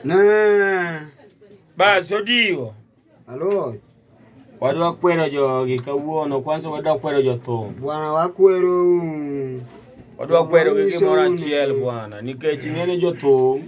Na. Bas odiwo. Alo. Wadwa kwero jogi kawuono kwanza wadwa kwero jothum. Bwana wakwero. Wadwa kwero gi gimoro achiel bwana nikech ng'ene jothum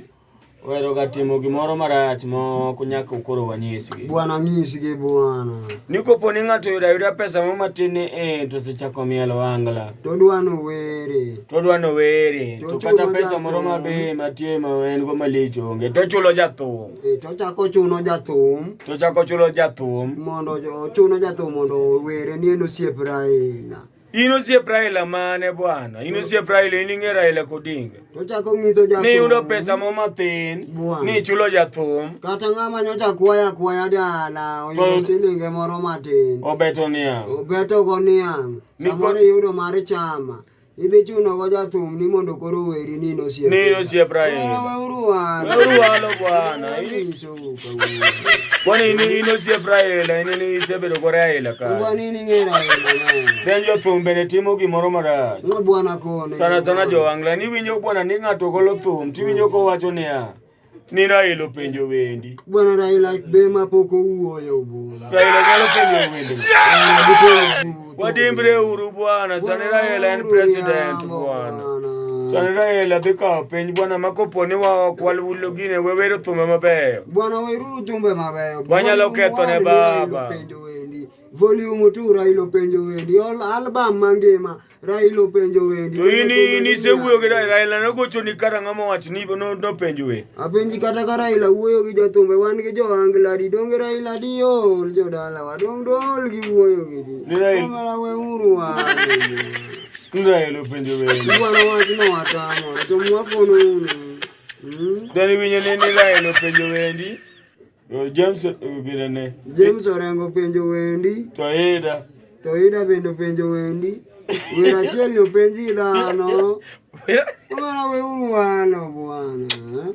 Wero gatimo gimoro marach moko nyaka ukoro wanyisgi. Bwana nyisgi bwana. Niko poni ng'ato yuda yuda pesa mo matin e to sechako mielo wangla. To dwano were. todwa nowere to kata pesa moro mabe matie ma en go malich onge tochulo jathum e, tochako chuno jathum tochako chulo jathum mondo ochuno jathum mondo owere ni en osiep raila in osiep raila mane bwana in osiep raila in ing'e raila kodinga tochako ng'iso jathum ni yudo pesa mo mathin ni chulo jathum kata ng'ama nyocha kwaya kwaya dala oyudo silinge moro matin obeto niang' obetogo niang' samoro iyudo mar chama Idhi chuno go jathum ni mondo koro weri ni nosiep. Ni nosiep raini. Weuru wan. Weuru walo bwana. Kwani ni inosiep raila in ni isebedo go raila ka. Kwani ni ng'era raila. Ben jothum bende timo gimoro marach. Ngo bwana kone. Sana sana jo angla ni winjo bwana ni ng'ato golo thum tiwinjo kowacho niya. ni Raila openjo wendi. Bwana Raila be ma pok owuoyo bwana. Raila nyalo penjo wendi. Wadimbre uru bwana, sani Raila en president bwana. Sani Raila dhi kawo piny bwana ma kopo ni wa ok walulo gine we wero thumbe mabeyo. Bwana weruru thumbe mabeyo. Wanyalo ketho ne baba. Volume tu Raila openjo wendi. Album mangima. Raila openjo wendi. To in in isewuoyo gi Raila, Raila nogochoni kata ng'ama wach ni no- nopenjo we. Apenji kata ka Raila wuoyo gi jothumbe wan gi johangla di donge Raila di ol jodala wa dong dol gi wuoyo gi di. Ni Raila- Kamera we uru wa. Ni Raila openjo we. Iwaro wach no watamo to mwakono uni. Mm. Then iwinjo ni ni Raila openjo wendi. James ogirene. James orengo penjo wendi. To Ida. To Ida bende penjo wendi. Wer achiel ni openji dhano. Omana weuru wano bwana.